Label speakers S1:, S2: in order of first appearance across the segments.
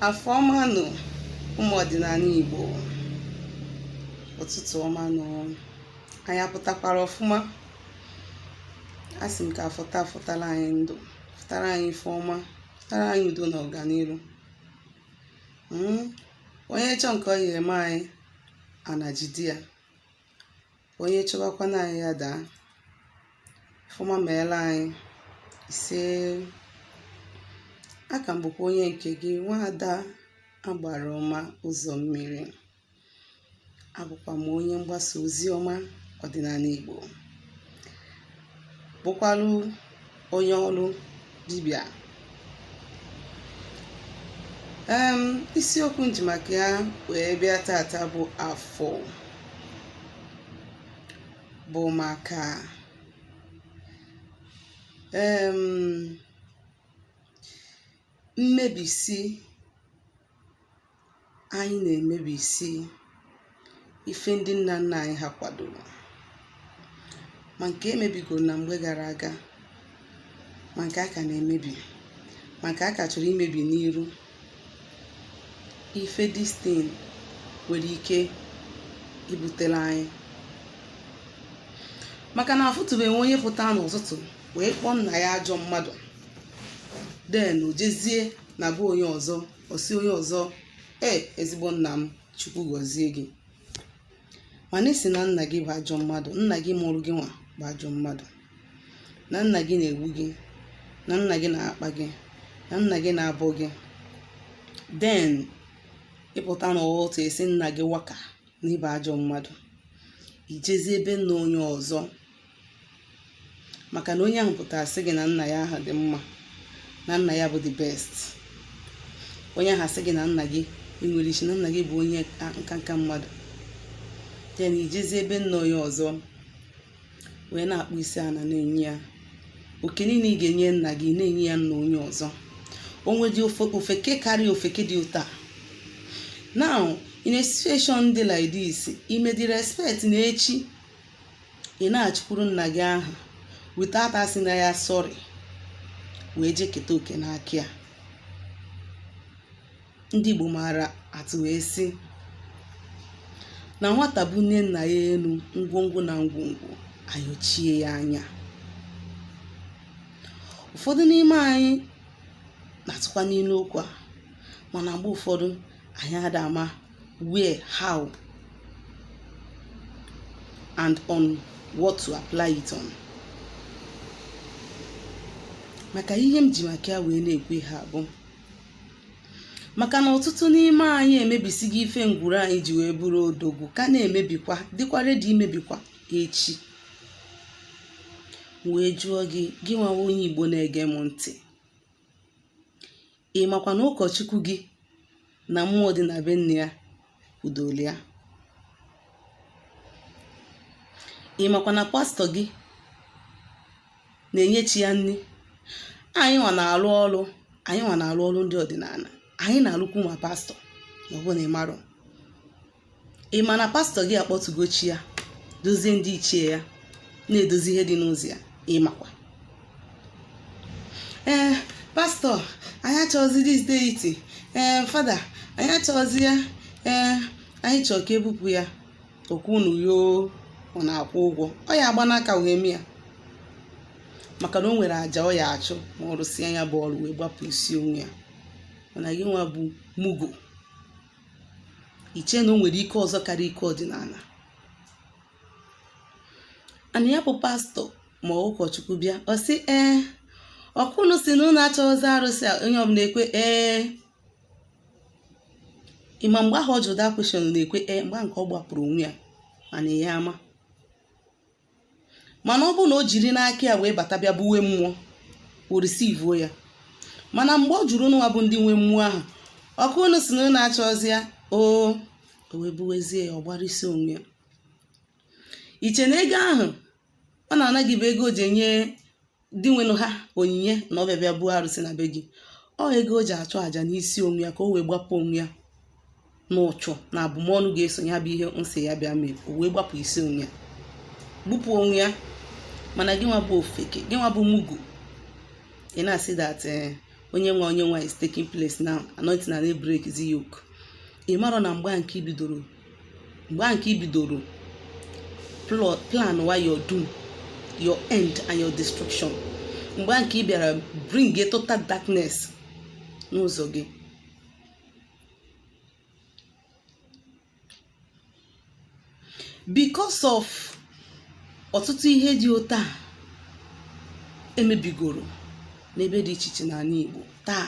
S1: afọ ọma nụ ụmụ ọdịnana Igbo ụtụtụ ọma nụ anyị apụtakwara ọfụma a sị m ka Afọ taa fọtara anyị ndụ fọtara anyị ife ọma fọtara anyị udo na ọganiru onye chọọ nke ọ ya eme anyị ana jide ya onye chọbakwanụ anyị ya daa ife ọma meela anyị ise a ka m bụkwa onye nke gị nwaada agbara ọma ụzọ mmiri abụkwa m onye mgbasa ozi ọma ọdịnana Igbo bụkwalụ onye ọrụ dibịa um isiokwu m ji maka ya wee bịa tata bụ afọ bụ maka um mmebisi anyị na-emebisi ife ndị nna nna anyị ha kwadoro ma nke e mebigoro na mgbe gara aga ma nke a ka na-emebi ma nke a ka chọrọ imebi n'iru ife this thing nwere ike ibutere anyị maka na afụtụbeghị onye pụta n'ụtụtụ wee kpọọ nna ya ajọ mmadụ then o jezie na be onye ọzọ ọ sị onye ọzọ ee ezigbo nna m chukwu gọzie gị mana ị sị na nna gị bụ ajọ mmadụ nna gị mụrụ gị nwa bụ ajọ mmadụ na nna gị na-egbu gị na nna gị na-akpa gị na nna gị na-abụ gị then ị pụta n'ụtụtụ ị sị nna gị waka na ị bụ ajọ mmadụ i jezie be nna onye ọzọ maka na onye ahụ pụtara sị gị na nna ya ahụ dị mma na nna ya bụ the best onye ahụ asị gị na nna gị enwerọ isi na nna gị bụ onye nkanka mmadụ then i jezie be nna onye ọzọ wee na-akpụ isi ana na-enye ya oke niile ị ga-enye nna gị na-enye ya nna onye ọzọ o nwedị ofeke karịa ofeke dị otu a now in a situation dị like this i mee disrespect na echi ị na-achụkwuru nna gị ahụ without asị nna ya sorry wee jee keta oke n'aka ya ndị Igbo maara atụ wee sị na nwata bunie nna ya enu ngwongwo na ngwongwo ayochie ya anya ụfọdụ n'ime anyị na-atụkwanụ ilu okwu a mana mgbe ụfọdụ anyị ada ama where how and on what to apply it on maka ihe m ji maka ya wee na-ekwu ihe a bụ maka na ọtụtụ n'ime anyị emebisigo ife ngwuru anyị ji wee bụrụ odogwu ka na-emebikwa dịkwa ready imebikwa echi wee jụọ gị gị nwa onye igbo na-ege m ntị ị makwa na ụkọchukwu gị na mmụọ dị na be nne ya kwudoro ya ị makwa na pastọ gị na-enye chi ya nri anyị nwa na-alụ ọrụ anyị nwa na-alụ ọrụ ndị ọdịnala anyị na-alụkwu ma pastọ ma ọ bụ na ị marọ ị ma na pastọ gị akpọtụgo chi ya dozie ndị ichie ya na-edozi ihe dị n'ụzọ ya ị makwa ee pastọ anyị achọghịzi this deity ee fada anyị achọghịzi ya ee anyị chọrọ ka e bupụ ya ọkwa unu yoo ọ na-akwụ ụgwọ ọ ya agba n'aka wee mee ya maka na o nwere aja ọ ya-achụ ma ọ rụsịa ya bụ ọrụ wee gbapụ isi onwe ya mana gị nwa bụ mugu i che na o nwere ike ọzọ karịa ike ọdịnala and ya bụ pastọ ma ọ bụ ụkọchukwu bịa ọ sị ee ọkwa ụnụ sị na ụnụ achọghịzi arụsị a onye ọbụla ekwe ee ị ma mgbe ahụ ọ jụrụ that question ụnụ ekwe ee mgbe nke ọ gbapụrụ onwe ya mana ya ama mana ọ bụrụ na o jiri n'aka ya wee bata bịa buwe mmụọ o risivuo ya mana mgbe ọ jụrụ ụnụ nwa bụ ndị nwe mmụọ ahụ ọkwa unu sị na unu achọzi ya oo o wee buwezie ya ọ gbara isi onwe ya i che na ego ahụ ọ na-ana gị bụ ego o ji enye dinwenụ ha onyinye na ọ bịa bịa buo arụsị na be gị ọ ego o ji achụ àjà n'isi onwe ya ka o wee gbapụ onwe ya n'ụchụ na abụmọnụ ga-eso ya bụ ihe unu sị ya bịa mee o wee gbapụ isi onwe ya gbupụ onwe ya mana gị nwa bụ ofeke gị nwa bụ mugu ị na-asị that eh, onye nwa onye nwa is taking place now anointing na break the yoke ị marọ na mgbe nke i bidoro mgbe nke i bidoro plan wa your doom your end and your destruction mgbe nke ị bịara bring a total darkness n'ụzọ gị because of ọtụtụ ihe dị otu a emebigoro n'ebe dị iche iche n'ala Igbo taa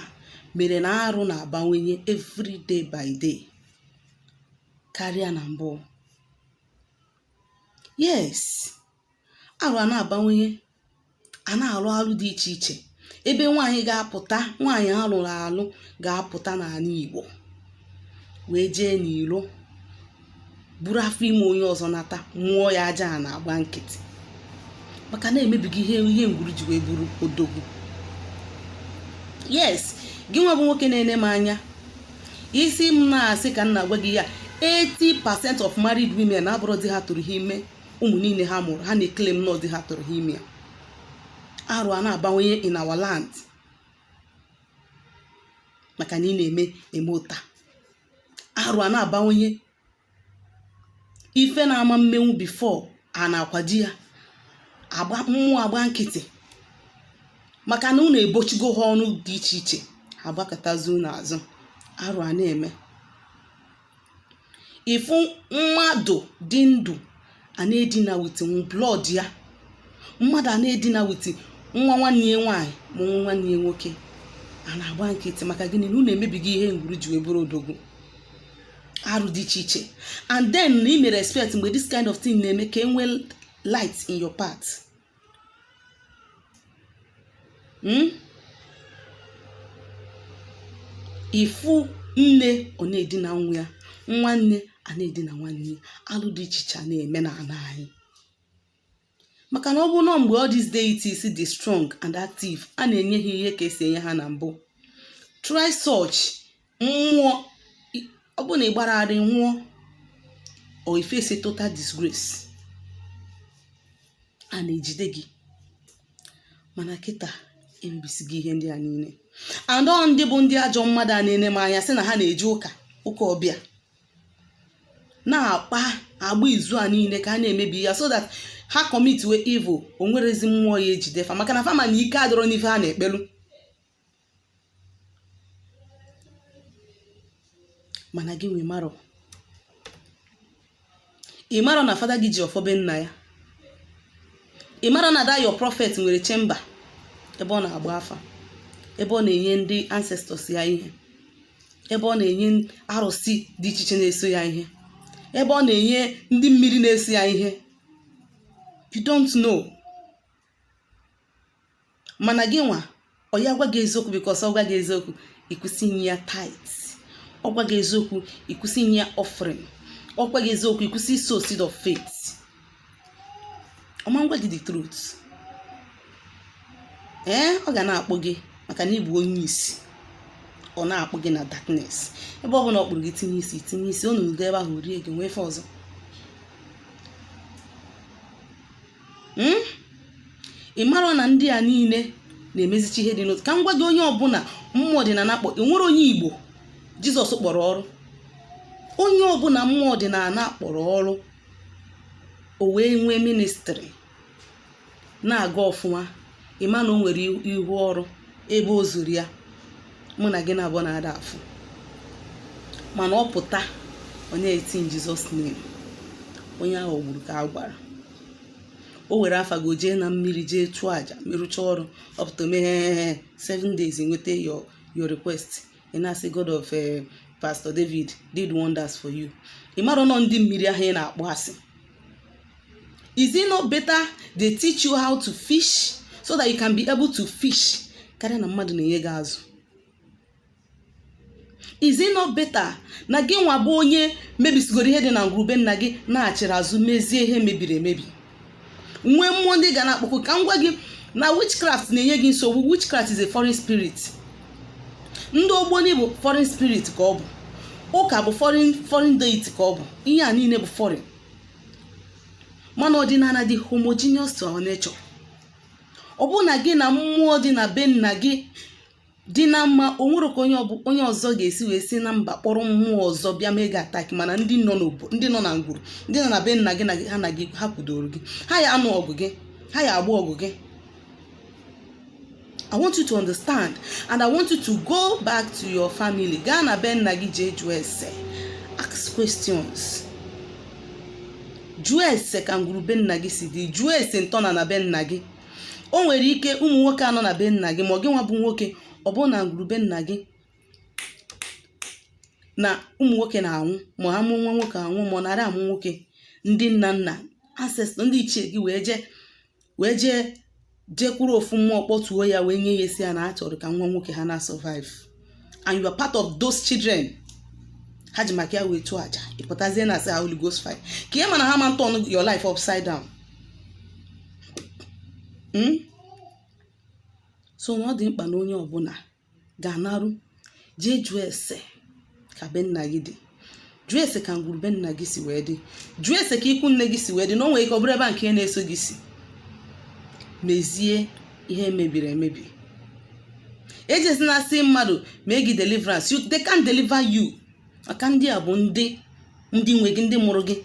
S1: mere na arụ na-abawanye every day by day karịa na mbụ yes arụ a na-abawanye a na-alụ alụ dị iche iche ebe nwaanyị ga-apụta nwaanyị a lụrụ alụ ga-apụta n'ala Igbo wee jee n'ilo buru afọ ime onye ọzọ nata mụọ ya Ajaana agba nkịtị maka na emebigo ihe ngwuru ji wee bụrụ odogwu yes gị nwa bụ nwoke na-ene m anya ị sị m na asị ka m na-agwa gị ya 80% of married women abụrọ di ha tụrụ ha ime ụmụ niile ha mụrụ ha na-eclaim na ọ di ha tụrụ ha ime ya arụ a na-abawanye in our land maka na ị na-eme eme ụta arụ a na-abawanye ife na-ama mmenwu before a na-akwado ya mmụọ agba nkịtị maka na unu ebochigo ha ọnụ dị iche iche agbakụtazi unu azụ arụ a na-eme ị fụ mmadụ dị ndụ a na-edina with blood ya mmadụ a na-edina with nwa nwanne ya nwaanyị ma nwa nwanne ya nwoke a na-agba nkịtị maka gịnị na unu emebigo ihe ngwuru ji wee bụrụ odogwu arụ dị iche iche and then na ị mere expect mgbe this kind of thing na-eme ka e nwee light in your path hmm? ị fụ nne ọ na-edina nwa ya nwanne a na-edina nwanne ya alụ dị iche iche a na-eme n'ala anyị maka na ọ bụrụ na mgbe all these deities dị strong and active a na-enye ha ihe ka e si enye ha na mbụ try such nwụọ ọ bụrụ na ị gbara ara ị nwụọ or you face a total disgrace ana ejide gị mana kịta emebisigo ihe ndị a niile and ọ ndị bụ ndị ajọ mmadụ a na-ene m anya sị na ha na-eje ụka ụka ọbịa na-akpa agba izu a niile ka a na-emebi ya so that ha commitiwe evil o nwerọzi mmụọ ya ejide fa maka na fa ma na ike adịrọ n'ife ha na-ekpelu mana gị nwa amarọ ị marọ na fada gị ji ọfọ be nna ya ị marọ na that your prophet nwere chamber ebe ọ na-agba afa ebe ọ na-enye ndị ancestors ya ihe ebe ọ na-enye arụsị dị iche iche na-eso ya ihe ebe ọ na-enye ndị mmiri na-eso ya ihe you don't know mana gị nwa ọ ya gwa gị eziokwu because ọ gwa gị eziokwu ị kwụsị inye ya tithe ọ gwa gị eziokwu ị kwụsị inye ya offering ọ gwa gị eziokwu ị kwụsị isow seed of faith ọ ma ngwa gị the truth ee ọ ga na-akpụ gị maka na ị bụ onye isi ọ na-akpụ gị na darkness ebe ọ bụla ọ kpụrụ gị tinye isi tinye isi ọ nọdụ ebe ahụ rie gị nwee ife ọzọ hmm? ị mara na ndị a niile na-emezicha ihe dị n'otu ka m gwa gị onye ọbụla mmụọ ọdịnala kpọ enwere onye igbo jizọs kpọrọ ọrụ onye ọbụla mmụọ ọdịnala kpọrọ ọrụ o wee nwee ministry na-aga ọfụma ịma na o nwere ihu ọrụ ebe o zuru ya mụ na gị na abụọ na-ada afụ mana ọ pụta onye eti in Jesus name onye aghọgburu ka a gwara o were afa gị o jee na mmiri jee chụọ aja merụcha ọrụ ọ pụta o meghị seven days i nweta your your request ị na-asị god of eh, pastor david did wonders for you ị mara na ọ ndị mmiri ahụ ị na-akpọ asị is it not better they teach you how to fish so that you can be able to fish karịa na mmadụ na-enye gị azụ is it not better na gị nwa bụ onye mebisigoro ihe dị na ngwuru be nna gị na-achịrị azụ mezie ihe mebiri emebi nwee mmụọ ndị ị ga na-akpọku ka m gwa gị na witchcraft na-enye gị nsogbu witchcraft is a foreign spirit ndị ogboni bụ foreign spirit ka ọ bụ ụka bụ foreign foreign deity ka ọ bụ ihe a niile bụ foreign mana ọdịnala dị homogeneous to our nature ọ bụrụ na gị na mmụọ dị na be nna gị dị na mma o nwere ka onye ọbụ onye ọzọ ga-esi wee si na mba kpọrọ mmụọ ọzọ bịa mee gị attack mana ndị nọ n'obo ndị nọ na ngwuru ndị nọ na be nna gị na gị ha na gị ha kwudoro gị ha ya anụ ọgụ gị ha ya agba ọgụ gị I want you to understand and I want you to go back to your family gaa na be nna gị jee jụọ ese ask questions jụọ ese ka ngwuru be nna gị si dị jụọ ese ntọnana be nna gị o nwere ike ụmụ nwoke anọ na be nna gị ma gị nwa bụ nwoke ọ bụrụ na ngwuru be nna gị na ụmụ nwoke na-anwụ ma ha mụọ nwa nwoke anwụ ma anarọ amụ nwoke ndị nna nna ancestor ndị ichie gị wee jee wee jee jekwuru ofu mmụọ kpọtuo ya wee nye ya ihe sị ya na ha chọrọ ka nwa nwoke ha na-survive and you are part of those children ha ji maka ya wee tụọ aja ị pụtazie na-asị ha Holy Ghost fire ka ị ma na ha ma turn your life upside down Hmm? so na ọ dị mkpa na onye ọbụla ga-anarụ jee jụọ ese ka be nna gị dị jụọ ese ka ngwuru be nna gị si wee dị jụọ ese ka ikwu nne gị si wee dị na o nwere ike ọ bụrụ ebe a nke na-eso gị si mezie ihe mebiri emebi ejezina asị mmadụ mee gị deliverance you, they can't deliver you maka ndị a bụ ndị ndị nwe gị ndị mụrụ gị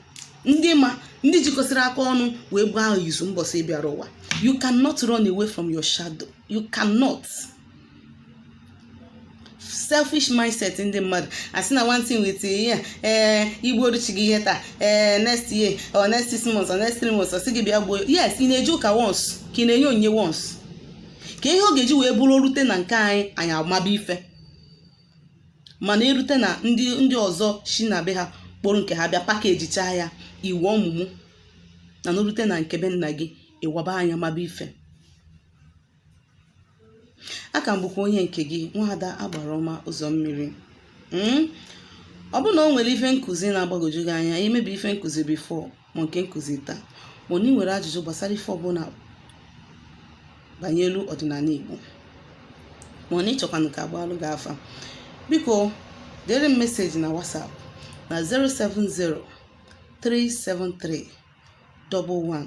S1: ndị ma ndị jikọsịrị aka ọnụ wee gbaa izu mbọsị ị bịara ụwa you cannot run away from your shadow you cannot selfish mindset ndị mmadụ asị na one thing with ihe ee eh, i gbuoro chi gị ihe taa ee eh, next year or next six months or next three months ọ sị gị bịa gbuo yes ị na-eje ụka once ka ị na-enye onyinye once ka ihe ọ ga-eji wee bụrụ rute na nke anyị anyị amaba ife mana e rute na ndị ndị ọzọ si na be ha kpọrọ nke ha bịa package chaa ya iwu ọmụmụ na n'orute na nke be nna gị ị waba anya maba ife a ka m bụkwa onye nke gị nwaada agbara ọma ụzọ mmiri hmm? ọ bụrụ na o nwere ife nkụzi na-agbagwoju gị anya e mebu ife nkụzi before ma nke nkụzi taa ma ọ na ị nwere ajụjụ gbasara ife ọbụla banyelu ọdịnala Igbo ma ọ na ị chọkwanụ ka a gbaalụ gị afa biko dere m message na WhatsApp na 070 373 11